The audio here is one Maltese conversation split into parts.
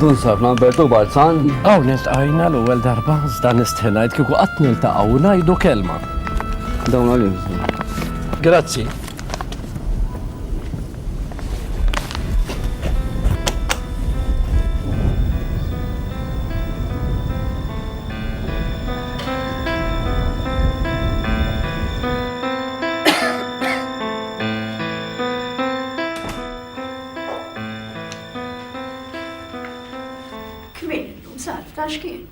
Dunsab ma' Bertu Balzan. Hawn iltqajna l-ewwel darba iżda nistħi ngħid kieku qatt niltaqgħu u ngħidu kelma. Dawn għalik. Grazzi. Kmieni llum, Sara, ta' x'kien?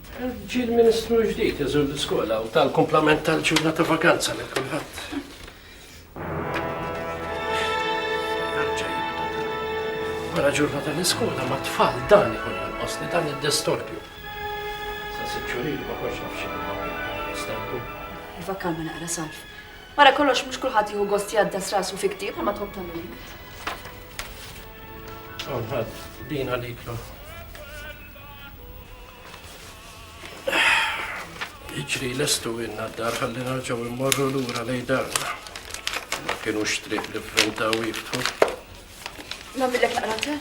Ġie l-Ministru l-ġdid iżur l-iskola u ta' l-kumplament tal-ġurnata ta' vakanza lil kulħadd. Wara ġurnata l-iskola ma' tfal dan ikun jonqosni dan id-distorbju. Sa sitt xhur ilu ma kontx naf x'inhu ma' Vakanna naqra salf. Wara kollox mhux kulħadd jieħu gost jgħaddas rasu fi ktieb bħalma tħobb tagħmel int. Hawn ħadd din għaliklu. Iġri lestu inna d-dar ħalli narġaw immorru lura lej darna. Ma kienu xtrib li frinta u jiftħu. Namillek naqra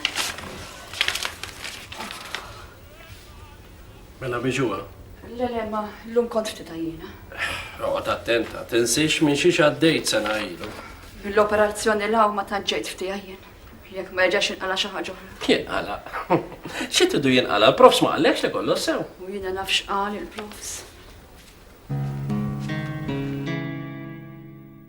Mela biġuha. Le le ma llum kontx titgħa jiena. Oqgħod attenta, tinsiex minn xiex għaddejt sena ilu. Mill-operazzjoni l ma tant ġejt ftiegħa jien. Jekk ma jerġax jinqala xi ħaġa oħra. Jinqala. Xi tidu jinqala? L-profs ma qallekx li kollox sew. U jiena naf x'qal il-profs.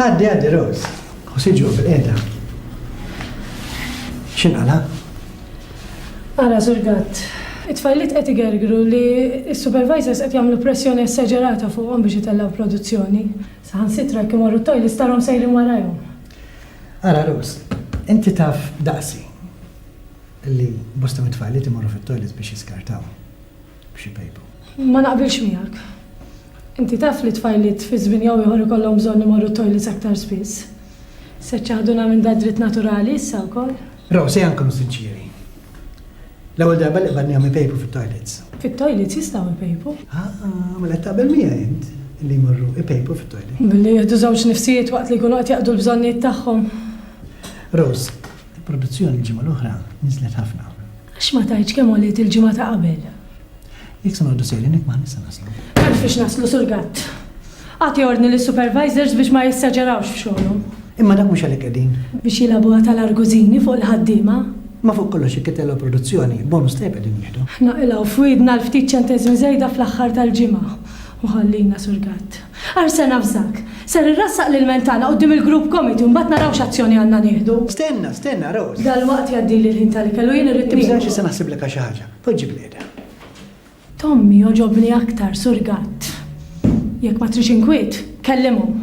Għaddi, għaddi, Rose. U siġu bil-qeda. Xinqala? Ara, Sur Gatt, it-tfajliet qed igergru li s-supervisors qed jagħmlu pressjoni esaġerata fuqhom biex itellgħu produzzjoni. Saħansitra jekk imorru t-toj li starhom sejrin warajhom. Ara, Rose, inti taf daqsi li bosta mit-tfajliet imorru fit-toilet biex jiskartaw. b'xi pejpu. Ma naqbilx miegħek. Inti taf li t-tfajliet fi żmien jew ieħor ikollhom bżonn imorru t-toilets aktar spiss. Se ċċaħduna minn da dritt naturali issa wkoll? Rose, ejja nkunu sinċieri. L-ewwel darba li qbadnihom ipejpu fit-toilets. Fit-toilets jistgħu jpejpu. Ah, mela taqbel miegħi int li jmorru ipejpu fit-toilets. Billi jieħdu żewġ nifsijiet waqt li jkunu qed jaqdu l-bżonnijiet tagħhom. Rose, Il-produzzjoni l-ġimgħa l-oħra niżlet ħafna. Għax ma tgħidx kemm għoliet il-ġimgħa ta' qabel? Jekk se noqogħdu sejrin hekk m'aħniex se naslu. M'hemmx fiex naslu, Sur Gatt. Agħti ordni lis-supervisors biex ma jessaġerawx f'xogħolhom. Imma dak mhux għalik qegħdin. Biex jilagħbuha ta' l-argużini fuq il-ħaddiema? Imma fuq kollox jekk itellgħu l-produzzjoni, bonus tajjeb qegħdin nieħdu. Ħna qilgħu f'widna l-ftit ċenteżmi żejda fl-aħħar tal-ġimgħa u ħallina, Sur Gatt. Għar ser navżak. Ser irrassaq l-ilment tagħna quddiem il-Group Committee u mbagħad naraw x'azzjoni għandna nieħdu. Stenna, stenna, Rose. Dalwaqt jgħaddili l-ħin tal-ikel u jien irrid niequm. Tibżax issa naħsiblek għal xi ħaġa. Poġġi bil-qiegħda. Tommy jogħġobni aktar, Sur Gatt. Jekk ma tridx inkwiet, kellimhom.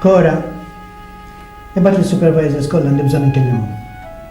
Cora, ibgħat lis-supervisors kollha li bżonn inkellimhom.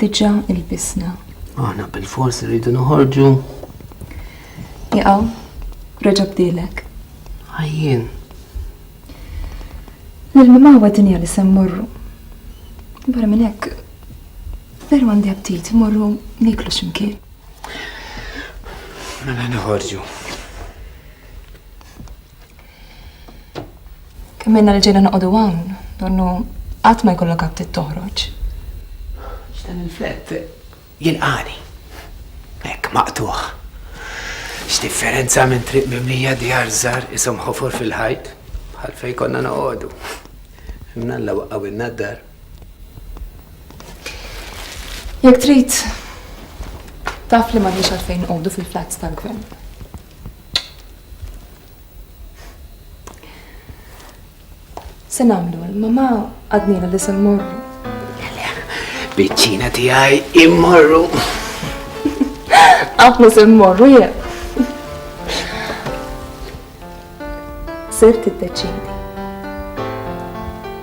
Diġà ilbisna. Aħna bil-fors rridu noħorġu. Jaqaw, reġa' bdilek. Ħajjien. L-mimgħawa dinja li se mmorru. Barra minn hekk, veru għandi aptit morru niklu x'imkien. Mela noħorġu. Kemm minna li ġejna noqogħdu hawn, donnu qatt ma jkollok aptit toħroġ. X'dan il-flett jilqani. Hekk maqtuħ. X'differenza minn triq mimlija djar żgħar isom ħofor fil-ħajt bħal fejn konna noqogħdu. Mnalla waqqawilna d-dar. Jekk trid, taf li m'għandniex għalfejn nqogħdu fil-flats tal-gvern. Se nagħmlu l-mama għadnila li se mmorru. Biċċina tiegħi immorru. Għafna se mmorru jien. Sir tiddeċidi.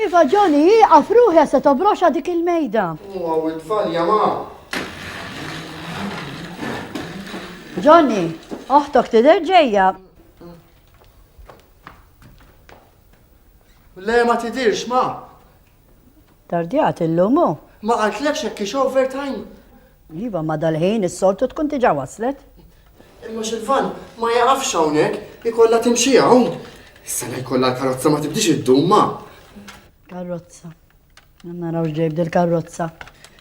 Iva Johnny, ieqaf ruħja se tobroxa dik il-mejda. U għaw it-tfal jama. Johnny, oħtok tidher ġejja. Le ma tidirx ma. Tardjat illum hu. Ma qaltlekx jekk hix overtime? Iva, ma dal-ħin is-soltu tkun diġà waslet. Imma x'il-van ma jaqafx hawnhekk, ikollha timxi hawn. Is-sena jkollha l-karozza ma tibdix iddum ma. Karozza. Naraw x'ġej b'dil-karozza.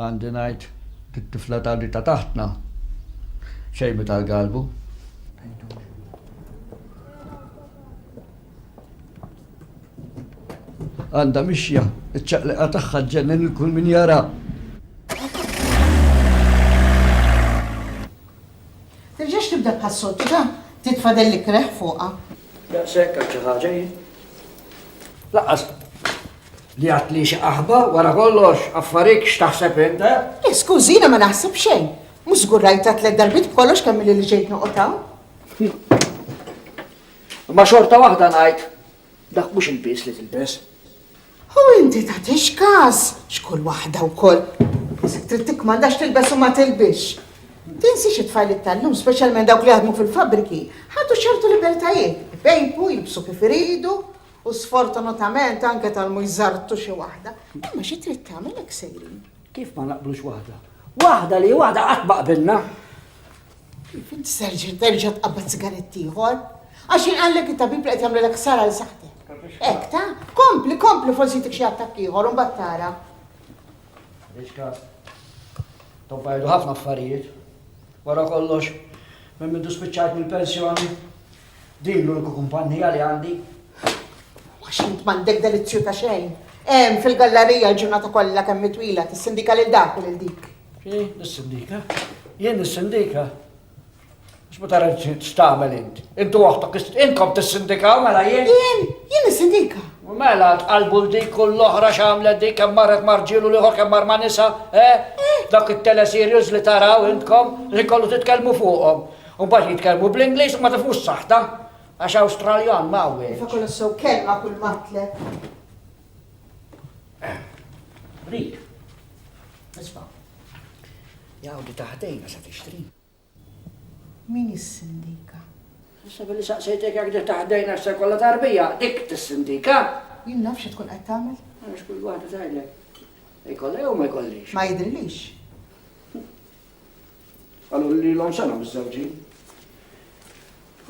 Għandi ngħid, dit-tifla ta' li ta' taħtna xejbet għal galbu. Għandha mixja, iċ-ċaqliqa tagħha ġġennen il kull min jara. Terġax tibda bħas-soċċa, titfadel li kreħ fuqha. Daqshekk għal xi ħaġa hi. Laqqas. Li għad li xi qaħba, wara kollox, affarik x'taħseb int, eh? Le, skużi, jiena ma naħseb xejn. Mhux żgur rajta tliet darbit b'kollox kemm li ġejt noqgħod hawn. Ma xorta waħda ngħid, dak mhux il-bies li tilbes. U inti ta' tixkas, xkull waħda u koll. Isek trid tikmandax tilbes u ma tilbix. Tinsi xi tfajl tal-lum, speċjalment dawk li jaħdmu fil-fabriki, ħadu ċertu libertajiet, bejbu, jibsu kif iridu, U sfortunatament anke tal-mhux żartu xi waħda. Imma xi trid tagħmel hekk sejrin. Kif ma naqblux waħda? Waħda li waħda qatt ma qbilna. Kif inti serġa' terġa' tqabbad sigaretti ieħor? Għax inqallek it-tabib li qed jagħmlilek sara l saħti. Hekk ta' kompli, kompli forsi tik xi attakk ieħor u tara. Iċka, tobbajdu ħafna affarijiet. Wara kollox, minn mindu spiċċajt mill-pensjoni, Din l-uniku kumpannija li għandi. Għax int m'għandek delizzju ta' xejn. Hemm fil-gallerija l-ġurnata kollha kemm mitwila tissindika lil dak u lil dik. Jien nissindika? Jien nissindika? Biex ma tara x'tagħmel int. Intu waħdek inkom tissindikaw mela jien. Jien, jien nissindika. Mela tqalbu l dik u l-oħra x'għamlet dik kemm marret marġilu liħor kemm mar ma' nisa, eh? eh. Dak it-teleserios li taraw intkom li kollu titkellmu fuqhom. U mbagħad jitkellmu bl-Ingliż u ma tifhmux saħta għax Awstraljan ma hawnx. Iva kollox sew kelma kull matlek. Rik. Isma'. Jawdi taħdejna se tixtri. Min is-sindika? Issa billi saqsejtek jekk dik taħdejna se kollha tarbija, dik tis-sindika. Jien nafx tkun qed tagħmel. Għax kull waħda tgħidlek. Ikollha jew ma jkollix. Ma jidrilix. Qalu li lilhom sena miżżewġin.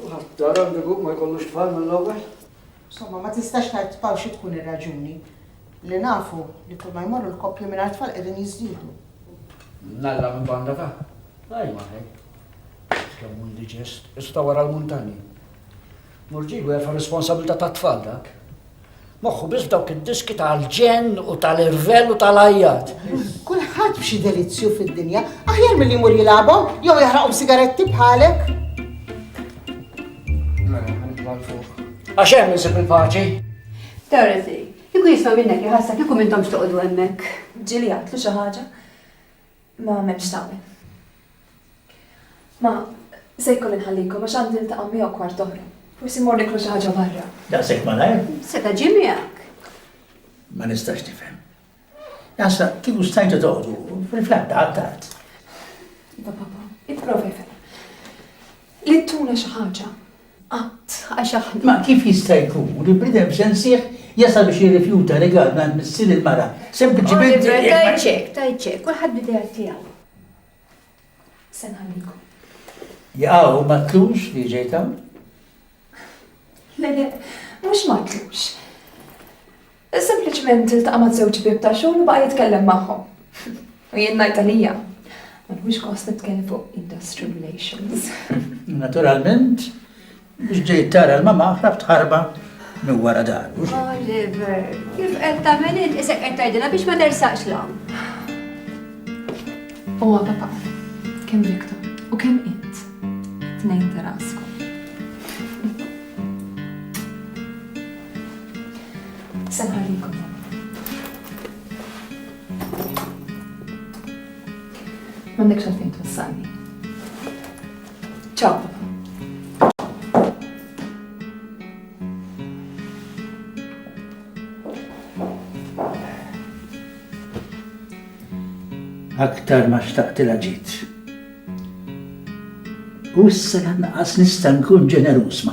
U ħadd għandu jkun ma jkollux tfal mill-ewwel. Insomma, ma tistax tgħid tpaw xi tkun ir-raġuni li nafu li kull ma jmorru l-koppji mingħajr tfal qegħdin jiżdiedu. Nalla minn banda ta' Ej ma ej. Kemm hu indiġest, issa wara l-muntanji. Murġigu jafa' responsabilità tat-tfal dak. Moħħu biss f'dawk id-diski tal-ġenn u tal-irvell u tal-ajjat. Kulħadd b'xi delizzju fid-dinja, aħjar milli jmur jilagħbhom jew jaħraqhom sigaretti bħalek. Għax hemm insib il-paċi. Dorothy, kieku jisma' minnek iħassak kieku minnhomx toqgħodu hemmhekk. Ġieli jgħidlu xi ħaġa. Ma m'hemmx tagħmel. Ma, se jkolli nħallikom għax għandi niltaqa' miegħu kwart oħra. Forsi mmorru niklu xi ħaġa barra. Daqshekk malajr? Seta' ġie miegħek. Ma nistax nifhem. Naħseb kieku stajtu toqgħodu, fil-flatta għad-tard. Iva, Papa, ipprova jfhem. Li ttuna xi ħaġa. Qatt, għax aħna. Ma kif jista' jkun li bniedem sensieh jasal biex jirrifjuta rigal mingħand missier il-mara, sempliċiment. Oliver, tgħidx hekk, tgħidx hekk, kulħadd bl-ideat tiegħu. Se nħallikom. Jaqaw, ma tlux li ġejt hawn? Le, le, mhux ma tlux. Sempliċement iltaqa' ma' żewġ ħbieb ta' xogħol u baqa' jitkellem magħhom. U jien ngħid għalija, ma nieħux gost nitkellem fuq industrial relations. Naturalment, biex ġejt tara l-mama ħrabt ħarba minn wara daru. Oliver, kif qed tagħmel int isek qed tgħidilha biex ma tersaqx 'l hawn. O papà, kemm Victor u kemm int tnejn ta' raskom. Se nħallikom. M'għandekx għalfejn twassalni. Ciao. Aktar ma xtaqtilha ġietx. U issa lanqas nista' nkun ġeneruż ma'.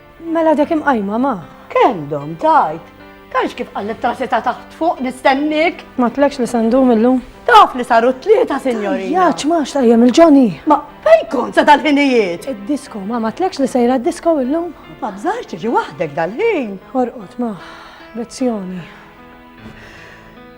Mela dek imqajma ma. Kemm dom tajt? Tgħidx kif qallet trasi ta' taħt fuq nistennik. Ma tlekx li sandum illum? Taf li saru t-tlieta, sinjorina. Jaċ, ma xtajjem il-ġoni. Ma fej kont sa dal-ħinijiet? Id-disko, ma ma tlekx li sejra d-disko illum? Ma bżarx tiġi waħdek dal-ħin. Orqot, ma, lezzjoni.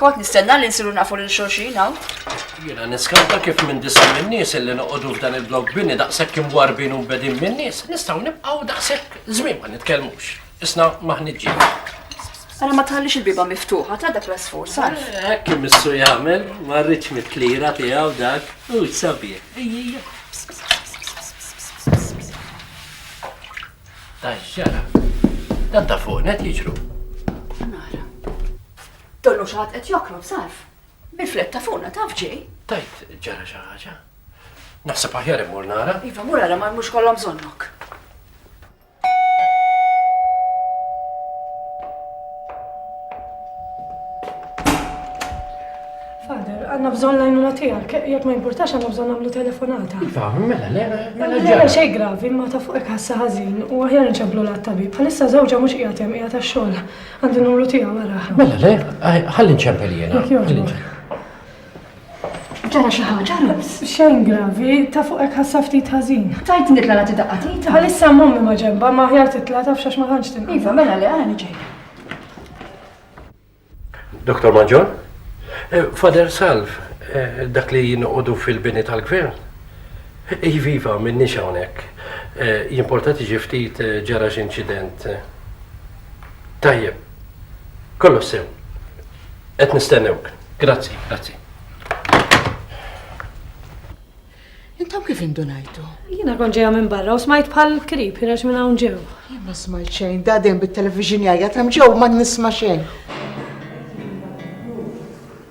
Kont nistenna li nsiru nafu lil xulxin hawn. Jiena niskanta kif minn disa' min-nies illi noqogħdu f'dan il-blokk bini daqshekk imwarrbin u mbegħdin min-nies, nistgħu nibqgħu daqshekk żmien ma nitkellmux. Isna m'aħniex ġid. Ara ma tħallix il-biba miftuħa ta' dak l-asfur, sar. Eh, hekk imissu jagħmel, ma rridx mit-tlira tiegħu dak, u sabiħ. Ejja. Tajjara. Dan ta' fuq net jiġru. Nara. Donnu xaħat qed jokrob sarf. Bil-flet ta' fuqna taf ġej. Tajt ġara xi ħaġa. Naħseb aħjar immur nara. Iva, mur għara ma mhux kollha bżonnok. Father, għanna bżon lajnuna tijak, jek ma importax għanna bżon għamlu telefonata. Iva, mela, lera, mela ġara. Mela xej gravi, ma ta' fuq ħassa ħazin, u għahjar nċablu la' tabib, għalissa zawġa mux qijatem, qijatem xol. Għandi numru tiegħu wara. Mela le, ħalli nċempel jiena. Ġara xi ħaġa, Rams. Xejn gravi, ta' fuq hekk ħassa ftit ħażin. Tajt nitla' nagħti daqqa tita. Għalissa mommi ma ġemba, ma ħjar titla' taf xax ma tantx tinqal. Iva, mela li għani ġej. Doktor Maġor, eh, Fader Salv, eh, dak li jinqodu fil-bini tal-gvern. Iva, iva, minni hawnhekk. Eh, jimportati ġiftit ġara x'inċident. Tajjeb. Kollox sew. Qed nistennewk. Grazzi, grazzi. Intom kif indunajtu? Jiena kont ġejja minn barra u smajt bħal krib ħireġ minn hawn ġew. Jien ma smajt xejn, da dejjem bit-television jgħajjat hemm ġew ma nisma' xejn.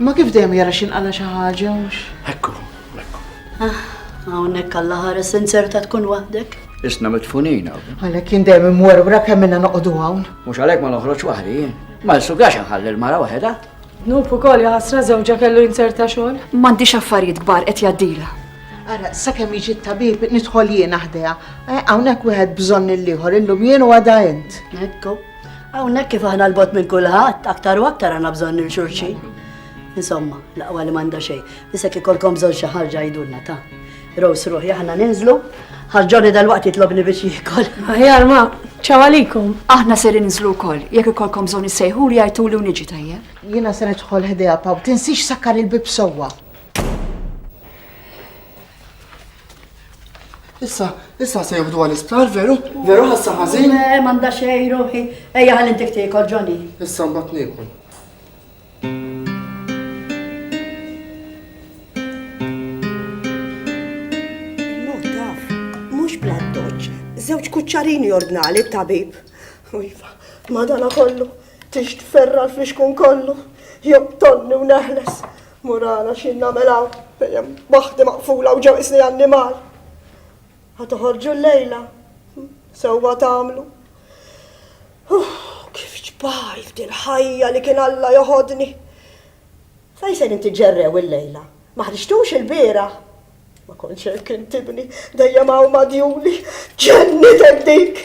Imma kif dejjem jara x'inqala' xi ħaġa, mhux? Hekk hu, hekk hu. Ah, hawnhekk Alla ħares inzerta tkun waħdek. Isna mitfunin hawn. Għalhekk jien dejjem imwerwra kemm inna noqogħdu hawn. Mhux għalhekk ma noħroġ waħdi jien. Ma nsugax inħalli l-mara waħedha. Dnub ukoll ja ħasra żewġha kellu jinzerta xogħol. M'għandix affarijiet kbar qed jgħaddilha. Ara, sakemm jiġi t-tabib nidħol jien aħdejha. Eh, hawnhekk wieħed bżonn lill-ieħor, illum jien u għada int. Hekk hu. Hawnhekk kif aħna l-bot minn kulħadd, aktar u aktar għandna bżonn il xulxin. Insomma, laqwa li m'għandha xejn. Isek ikolkom bżonn xi ħarġa jidulna ta' Rose ruħi aħna ninżlu, ħarġoni dal-waqt jitlobni biex jikol. Aħjar ma, ċawalikum. Aħna ser ninżlu kol, jekk ikolkom bżonn issejħu li għajtu li uniġi tajja. Jiena se nidħol ħdejha paw, tinsix sakkar il-bib sewwa. Issa, issa se jobdu għal isptar, veru? Veru ħassa ħażin? Eh, manda xej ruħi. Ejja ħalli intik tiekol ġoni. Issa mbagħad niekol. Mhux bladdoċ, żewġ kuċċarini ordnali t-tabib. Iva, madana kollu, tix tferra l-fixkun kollu, job tonni u neħles. Morala, x'jien nagħmel hawn fejn hemm waħdi maqfula u ġew qisni annimal? Ħa toħorġu llejla? Sewwa tagħmlu. Uff, kif ġbajt il-ħajja li kien Alla joħodni. Fejn se nitiġerrew illejla? Ma ħriġtux ilbieraħ? Ma kontx hekk intibni, dejjem hawn madjuli. Ġennitek dik!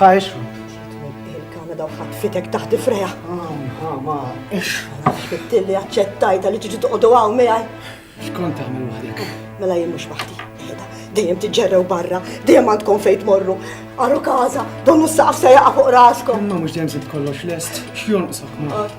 Ha ixħu. Il-Kanada u ħatfitek taħt ifreja. Ha ma ixħu. Fittin li aċċettajta li tiġi toqdu għaw miegħi. Xkont tagħmel waħdek? Mela jien mhux waħdi. Dejjem tiġġerrew barra, dejjem għandkom fejn tmorru. Għaru kaza, donnu s-saqaf se jaqa' fuq raskom. Imma mhux dejjem se tkollox lest, x'jonqsok ma.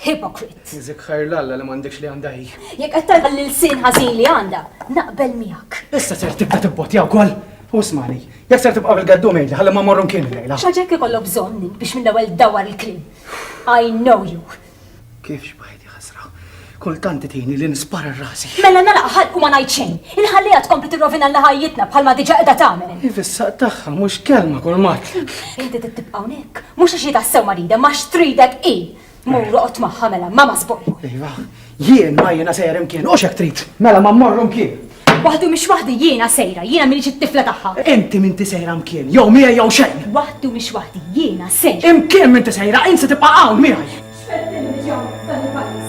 Hypocrite. Iżik ħajr l-Alla li m'għandekx li għandha hi. Jekk qed tagħmel lil sin ħażin li għandha, naqbel miegħek. Issa ser tibda tibbotja wkoll. U smani, jekk ser tibqa' bil-gaddu mejli ħalli ma morru mkien lejla. X'ħaġek ikollok bżonn biex minn l-ewwel dawar il-kliem. I know you. Kif xbajti ħasra? Kultant titini li nispara rasi. Mela nala ħalq u ma ngħid xejn. Inħallija tkompli tirrovina l ħajjitna bħalma diġà qiegħda tagħmel. Ifissa tagħha mhux kelma kull mat. Inti tibqa' hawnhekk, mhux għax tassew marida, ma xtridek hi. Mur oqgħod magħha mela, mama sboj. Iva, jien ma jiena sejjer imkien, u xek trid. Mela ma mmorru mkien. Waħdu mhix waħdi jiena sejra, jiena minix it-tifla tagħha. Inti minti sejra mkien, jew mija jew xejn. Waħdu mhix waħdi jiena sejra. Imkien minti sejra, inti tibqa' hawn miegħi. X'fettilni ġew dan il-pajjiż.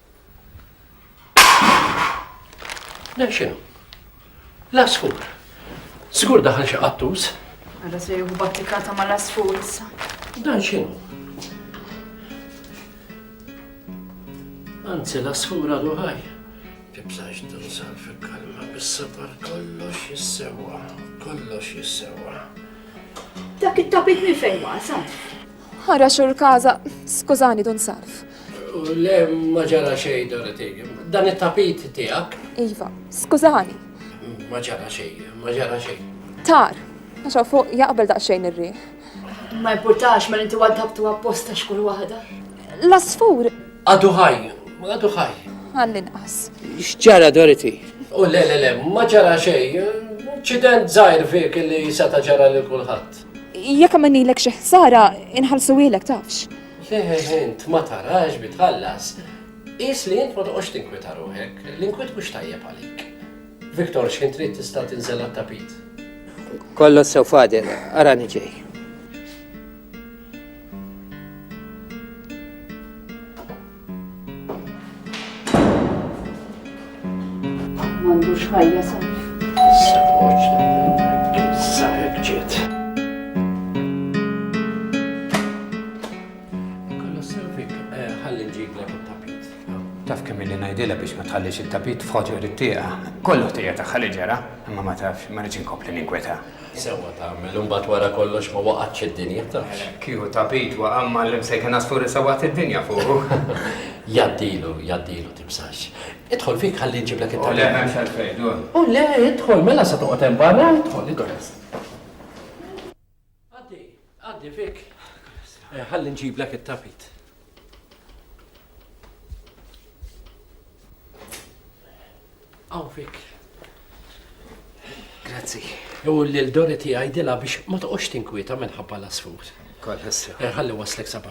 Dan xinu? L-asfur. Sigur daħal xi qattus. Għada se juhu battikata ma l-asfur issa. Dan xinu? Anzi, l-asfur għadu ħaj. Tibżax tinsal fil-kalma bis-safar kollox jissewa, kollox jissewa. Dak it-tabib minn fejn wasal? Ara xur kaza, skużani dun sarf. Le, ma ġara xej, Dorothy. Dan it-tapit tiegħek? Iva, skużani. Ma ġara xej, ma ġara xej. Tar, għaxa fuq jaqbel daqsxejn ir-riħ. Ma importax, ma inti waddabtu apposta xkull waħda. L-asfur. Għadu ħaj, għadu ħaj. Għall-inqas. X'ġara, Dorothy? U le, le, le, ma ġara xej. Ċident zaħir fik li seta ġara li kulħadd. Jekk għamennilek xi ħsara, inħallsuhielek tafx. Le, int ma tarax bi tħallas. Qis li int ma toqgħodx tinkwieta ruħek, l-inkwiet mhux tajjeb għalik. Victor, x'ħin trid tista' tinżel għat-tapit? Kollox sew Fadil, arani ġej. M'għandux ħajja saf. Sewwaġ sahek ġiet. Kollu sewfik eh, ħalli nġiblek it-tapit. Taf kemm li ngħidilha biex ma tħallix it-tapit f'ħoġor it-tieqa. Kollu ħtija tagħha li ġara, imma ma tafx ma rridx inkompli ninkweta. Sewwa tagħmel, imbagħad wara kollox ma waqgħetx id-dinja, tafx. Kieku ta' Pete waqa' mgħallem se jkun għasfur issa waqgħet id-dinja fuqu. Jgħaddilu, jgħaddilu tibsax. Idħol fik ħalli nġiblek it-tagħlim. U le m'hemmx għalfejn, dur. U le, idħol, mela se toqgħod hemm barra, idħol, idħol. Għaddi fik. Ħalli nġiblek it-tapit. Hawn fik. Grazzi. U l-Dori tiegħi dila biex ma toqgħodx tinkwieta minħabba l-asfur. Kollha. Ħalli waslek sabba.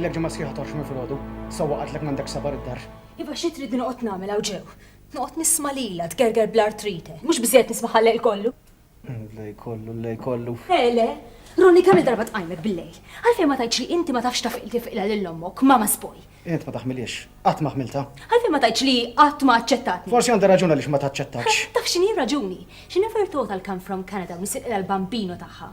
Ilek ġemma sħiħa torx minn filgħodu, sewwa qatlek m'għandek sabar id-dar. Iva xi trid noqgħod nagħmel hawn ġew. Noqgħod nisma' lilha tgerger bl-artrite, mhux biżejjed nisma' ħallel kollu. L-lej kollu, l-lej kollu. Le, le. Ronnie, kemm-il darba tqajmek bil-lejl? Għalfejn ma tgħidx li inti ma tafx taf tifiqilha lil ommok, mama sboj? Int ma taħmilhiex. Qatt ma ħmiltha. Għalfejn ma tgħidx li qatt ma aċċettatni? Forsi għandha raġun għaliex ma taċċettakx. Taf x'inhi r-raġuni? She never thought I'll come from Canada u nisirqilha l-bambino tagħha.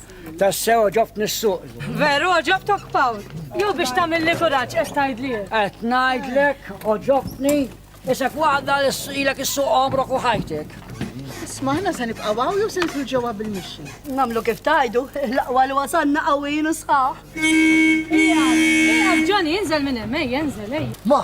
Tassew oġobtni s-suq. Veru oġobtok Pawl. Jew biex tagħmel li kuraġġ qed tgħidli. Qed ngħidlek oġobtni isek waħda li ilek is-suq għomrok u ħajtek. Isma' aħna se nibqgħu hawn jew se nidħlu ġewwa bil-mixi. Nagħmlu kif tajdu, l-aqwa li wasanna qawwijin u sħaħ. Ija, ija, Ġoni, inżel minn hemm, ejja, inżel, ejja. Ma,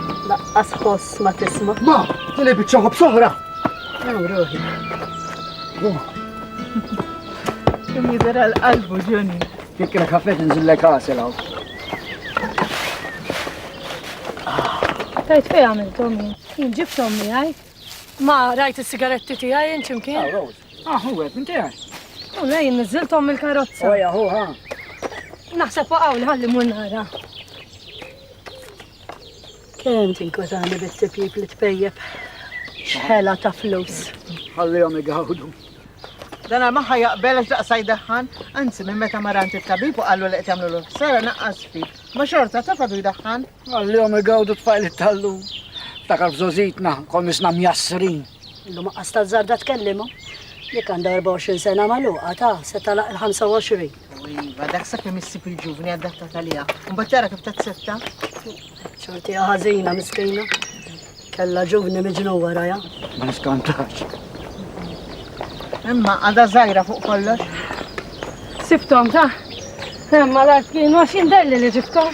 Laqqas ħoss ma tisma'. Ma, tili biċċa ħobb soħra. Naw ruħi. Kim jidher għal qalbu ġuni. Jekk kienek ħafna tinżillek għasel hawn. Tajt fej għamil Tommy. Jien ġib Tommy għaj. Ma rajt il-sigaretti ti għaj jien ċimkien. Ah, Rose. Ah, hu għed, minti għaj. U lej, nizziltom il-karozza. Oja, hu, ha. Naħseb waqaw li ħalli mun nara. Kemm tinkwetani bit-tipjip li tpejjep xħela ta' flus. Ħallihom igawdu. Dan ma ħa jaqbel għax daqsa jdaħħan, anzi minn meta marant it-tabib u qallu li qed jagħmlu l sara naqqas fi. Ma xorta ta' fadu jdaħħan. Ħallihom igawdu tfajl it-tallu. Ftakar f'żożitna, kol misna mjassrin. Illu ma qas tal-żarda tkellimhom. Jekk għandha 24 sena magħluqa ta' se talaq il-25. U iva, dak sa kemm issib il-ġuvni adattat għaliha. Mbagħad tara kif tazzetta. Xorti ħażina miskina. Kella ġuvni miġnu warajha. Ma niskantax. Imma għadha żgħira fuq kollox. Sibtom ta' Imma l-art kienu għax indelli li ġibtom.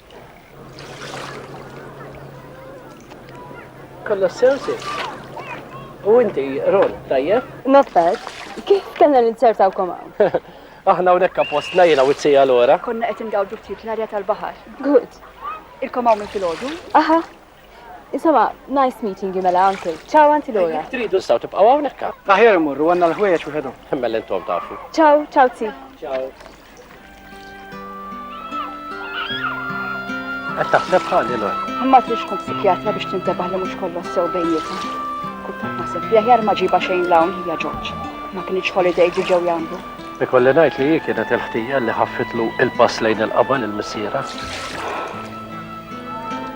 Kollox sew sis. U inti, Ron, tajjeb? Nofet, kif kellna ninzertawkom hawn? Aħna hawnhekk appostna jiena u t-sija l-ora. Konna qed ingawdu ftit l-arja tal-baħar. Good. Ilkom hawn minn filgħodu? Aha, Insomma, nice meeting you mela, uncle. Ciao, anti Laura. Jek tridu staw tibqaw hawnhekk. Aħjar immorru għandna l-ħwejjeġ wieħedhom. Mela intom tafu. Ciao, ciao zi. Ciao. Qed taħseb ħalli l Ma trix tkun psikjatra biex tintebaħ li mhux kollox sew bejnietna. Kultant naħseb li aħjar ma ġiba xejn l-hawn hija Ġorġ. Ma kienx holiday ġi ġew jagħmlu. Ikolli ngħid li hi kienet il-ħtija li ħaffitlu il-pass lejn il-qabel il-missiera.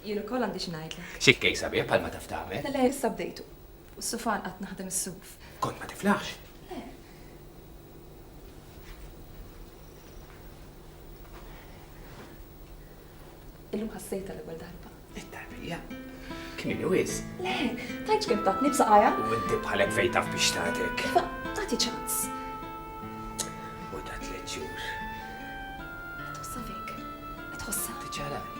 Jien ukoll għandi xi ngħidlek. Xi kkejk sabiħ bħalma taf tagħmel. Le le issa bdejtu. Fuq is-sufan qatt naħdem is-suf. Kont ma tiflaħx? Le. Illum ħassejtha l-ewwel darba. It-tarbija. Kmini wis. Le, tajt kemm tatni b'saqajja. U inti bħalek fejn taf biex tagħtek. Iva, tagħti ċans. U ta' tliet xhur. Tħossa fik. Tħossa. Tiċċara.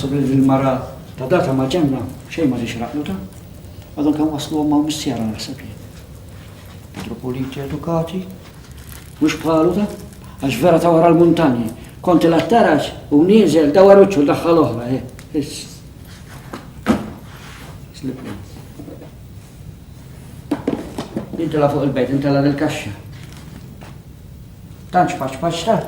Naħseb li din mara ta' data ma' ġenna xejn ma ġiex raqluta. Għadhom kan waslu għamma missjara naħseb li. Petru Puliti edukati, mhux bħalu ta' għax vera ta' wara l-muntanji. Konti l-attarax u nieżel da waruċu daħħal oħra, eh, Slipni. Intela fuq il-bejt, intela l-kaxxa. Tanċ paċ paċ ta'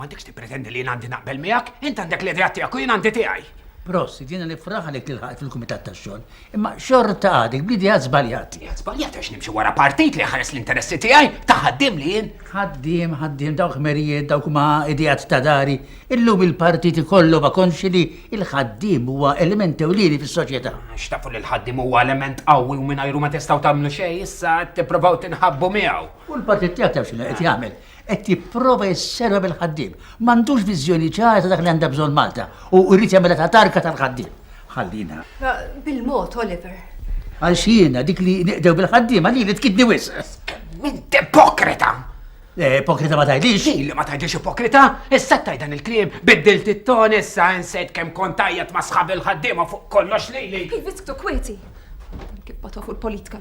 m'għandekx tippretendi li jien għandi naqbel miegħek, int għandek l-idea tiegħek u jien għandi tiegħi. Prost, jiena nifraħ għalik li ħaqt fil-kumitat tax-xogħol. Imma xorta għadik b'idea żbaljat. Idea żbaljat għax nimxi wara partit li ħares l-interessi tiegħi ta' ħaddiem li jien. Ħaddiem, ħaddiem dawk merijiet, dawk ma' idejat ta' dari. Illum il-partit ikollu ma' konxi li il-ħaddiem huwa element ewlieni fis-soċjetà. Xtafu li l-ħaddiem huwa element qawwi u mingħajru ma tistgħu tagħmlu xejn, issa qed tipprovaw tinħabbu miegħu. U l-partit tiegħek taf x'inhu qed jagħmel? Qed jipprova jisserva bil-ħaddiem. M'għandux viżjoni ċara ta' dak li għandha bżonn Malta u jrid jagħmilha ta' tarka tal-ħaddiem. Ħallina. Bil-mod, Oliver. Għaliex jiena dik li neqdew bil-ħaddiema lili tkidni wisq. Int ipokrita! Eh, ipokrita ma tgħidlix? Lili ma tgħidlix ipokrita? Issa tgħid dan il-kliem, biddilt it-ton issa insejt kemm kont tajjeb ma' sħabi l-ħaddiema fuq kollox lili. Ħin wisq tu kwieti. Kif batofu l-politika.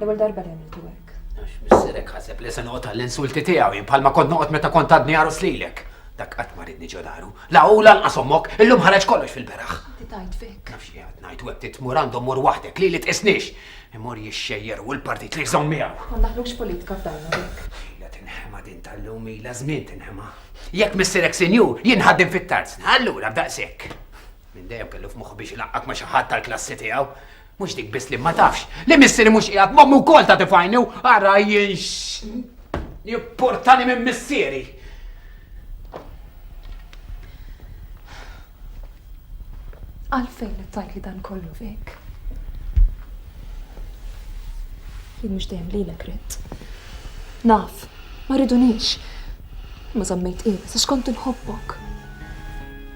L-ewwel darba li għamiltu hekk. Għax missierek ħaseb li se noqgħod għall-insulti tiegħu jien bħalma kont noqgħod meta kont għadni għarus lilek. Dak qatt ma ridni ġo daru. La u lanqas ommok, illum ħareġ kollox fil-beraħ. Inti tajt fik. Nafx li għad ngħid u hekk titmur għandhom mur waħdek li li tqisniex. Imur jixxejjer u l-partit li jżomm miegħu. Ma naħlux politika f'dajna dik. Ila tinħema din tal-lum ila żmien tinħema. Jekk missierek sinjur, jien ħaddim fit-tarz. Allura b'daqshekk. Minn dejjem kellu f'moħħu biex ilaqqak ma' xi ħadd tal-klassi tiegħu. Mhux dik biss li ma tafx, li missieri mhux qiegħed m'ommi wkoll ta' tifajni u ara jien jipportani minn missieri. Għalfejn qed tgħidli dan kollu fik? Jien mhux dejjem lilek ridt. Naf, ma rridunix. Ma żammejt qiegħed, għax kont inħobbok.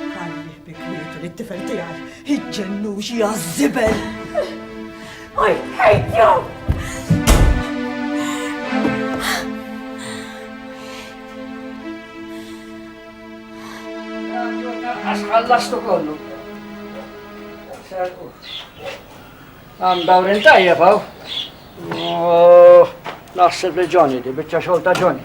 Ħalli bikmietu li t-tifel tiegħi iġġennu xi għażżibel. I hate you! Għax ħallastu kollu. Għam dawrin tajja faw. Oh, naħseb li Johnny, di bieċa xolta Johnny.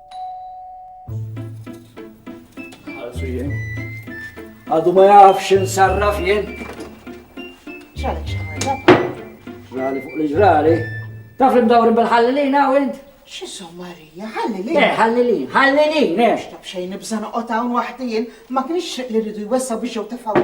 Għadu ma jafx insarraf jien. ċali ċali. Ġrali fuq li ġrali. Taf li mdawrin bil-ħallilin għaw int? Xiso Marija, ħallilin. Eh, ħallilin, ħallilin, eh. Xtab xejn nibżan oqgħod hawn waħdi jien, ma kienx li rridu jwessaw biex jew tefgħu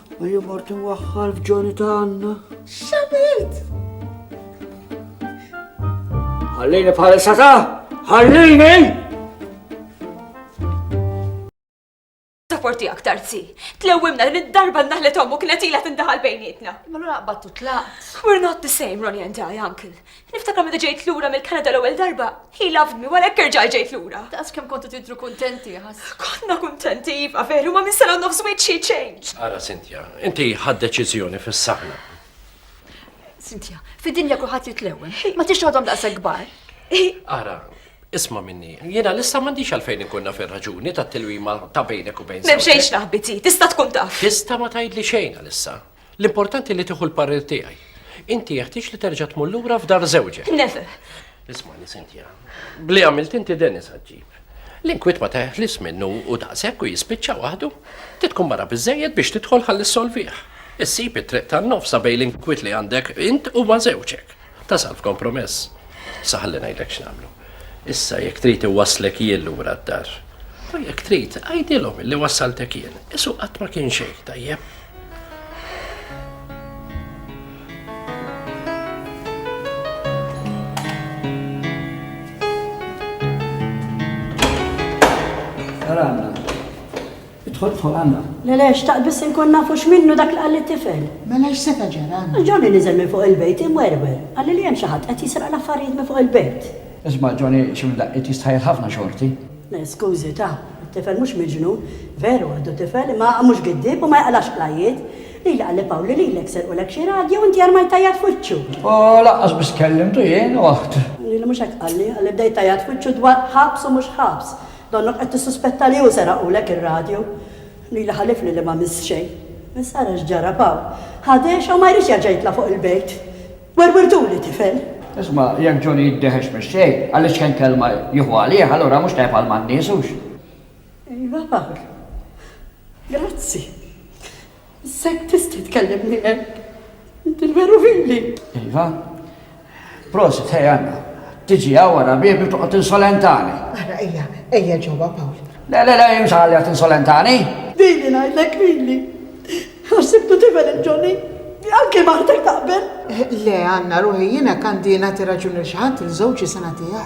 Ejja mort inwaħħal f'Ġoni ta' Anna. Xabilt! Ħallini bħal sata! Ħallini! Taporti aktar zi. Tlewimna li d-darba naħlet ommu kienet ila tindaħal bejnietna. Ma l-għura battu tlaqt. We're not the same, Ronnie and I, uncle. Niftakar meta ġejt lura mill-Kanada l-ewwel darba, he loved me, wara hekk erġajt ġejt lura. Daqs kemm kontu tidhru kuntenti, ħass. Konna kuntenti iva veru, ma minn sena u nofs żwieġ she changed. Ara Cynthia, inti ħadd deċiżjoni fis-saħna. Cynthia, fid-dinja kulħadd jitlewwem, ma tix toħodhom daqshekk kbar. Ara, Isma' minni, jiena lissa m'għandix għalfejn inkun naf ir-raġuni tat-tilwima ta' bejnek u bejn. M'hemm xejn x'naħbiti, tista' tkun taf. Tista' ma tgħidli xejn għalissa. L-importanti li tieħu l-parir tiegħi. Inti jeħtieġ li terġa' tmur lura f'dar żewġek. Never! Ismani, Cynthia. Bli għamilt inti Dennis ħaġġib. L-inkwit ma teħlis minnu u daqshekk u jispiċċa waħdu. Titkun mara biżejjed biex tidħol ħalli solvih. Issib it-triq tan-nofsa bejn l-inkwit li għandek int u ma' żewġek. Tasal f'kompromess. Sa ħalli ngħidlek x'nagħmlu. Issa jekk trid iwasslek jien lura d-dar. U jekk trid, għidilhom li wassaltek jien. Isu qatt ma kien xejn, tajjeb. Saranna. Idħol idħol għandna. Le le, xtaqt biss inkun nafu x'minnu dak li qal lit-tifel. Mela x'seta' ġara għandna? Johnny niżel minn fuq il-bejt imwerwer. Qalli li hemm xi ħadd qed jisraq l-affarijiet minn fuq il-bejt. Isma' Johnny xi minn daqqiet jistħajjel ħafna xorti. Le skużi ta, it-tifel mhux miġnun. Veru għadu tifel imma mhux giddieb u ma jaqlax qlajjiet. Lili qalli Pawlu lilek serqulek xi radju u inti armajt tajjat f'wiċċu. U lanqas biss kellimtu jien u aħt. Lili mhux hekk qalli, qalli bdejt tajjat f'wiċċu dwar ħabs u mhux ħabs. Donnok qed tissuspetta li hu seraqulek ir-radju? Lili ħalifni li m'għamilt xejn. Insara x'ġara b'hawn. Ħa dehxa u ma jridx jerġa' jitla' fuq il-bejt. Werwirtuli tifel! Isma', jekk Johnny jiddeħex mix-xejn, għaliex kemm kelma jieħu għalih, allura mhux tajjeb għal man nies, hux? Ejwa Pawl. Grazzi. Sett tista' tkellimni hekk? Inti veru vili! Iva. Prosit, ħej Anna. Tiġi hawn wara biebi u toqgħod tinsolentani. Ara ejja, ejja ġewwa Pawl. Le, le, le, imx għalja tinsolentani. Vili ngħidlek, vili. Għax sibtu tifel il-Ġoni. Anke martek taqbel. Le, Anna, ruħi, jien hekk għandi nagħti raġun lil xi ħadd il-żewġ jista' nagħtih.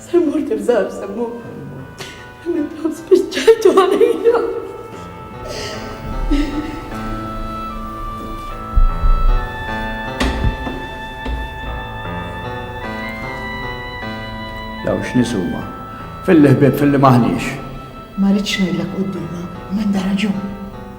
Semmur tirżar, Semmur. Nibgħu spiċċajtu għalija. Daw x'nisuma. Filli ħbieb filli maħniex. Ma rridx ngħidlek qudiema, m'għandha raġun.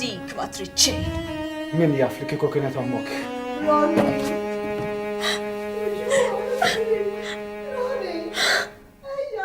Dik ma trid xejn. Min jaf li kieku kienet ommok. Ronnie! Ronnie! Ejja!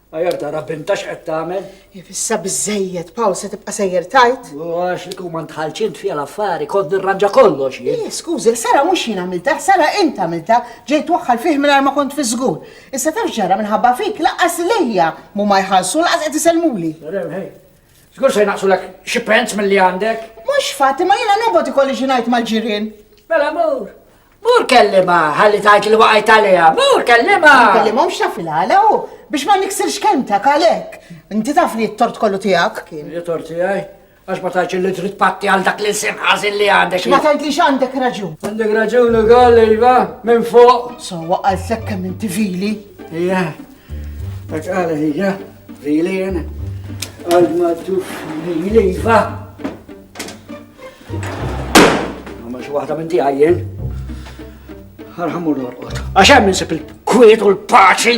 Ajar tara binta x'qed tagħmel. Ifissa biżejjed, Paul se tibqa' sejjer tajt. U għax li kum ntħalċint fiha l-affari, kont nirranġa kollox jien. Eh, skużi, Sara mhux jien għamilta, Sara int għamilta, ġejt waħħal fih mingħajr ma kont fi żgur. Issa taf ġara minħabba fik laqas lejja mu ma jħallsu laqas qed isellmuli. Żgur se jnaqsulek xi pens milli għandek. Mhux fatt, ma jiena nobgħod ikolli xi ngħid mal-ġirien. Mela mur, Mur kellima, ħalli tajt li waqajt għalija, mur kellima! Kellimhom xafil għala u biex ma niksirx kelmtek għalek. Inti taf li t-tort kollu tijak kien. Li tort tijaj? Għax ma tajċ li trid patti għal dak li sim ħazin li għandek. Ma tajt li għandek raġun. Għandek raġun u għal iva, minn fuq. So, għal sekka minn tivili. Ija, dak għala ija, vili jena. Għal ma tuf vili iva. Ma xi waħda minn tiegħi jien. Arħamu l-orqod. Għax hemm insib il-kwiet u l-paċi.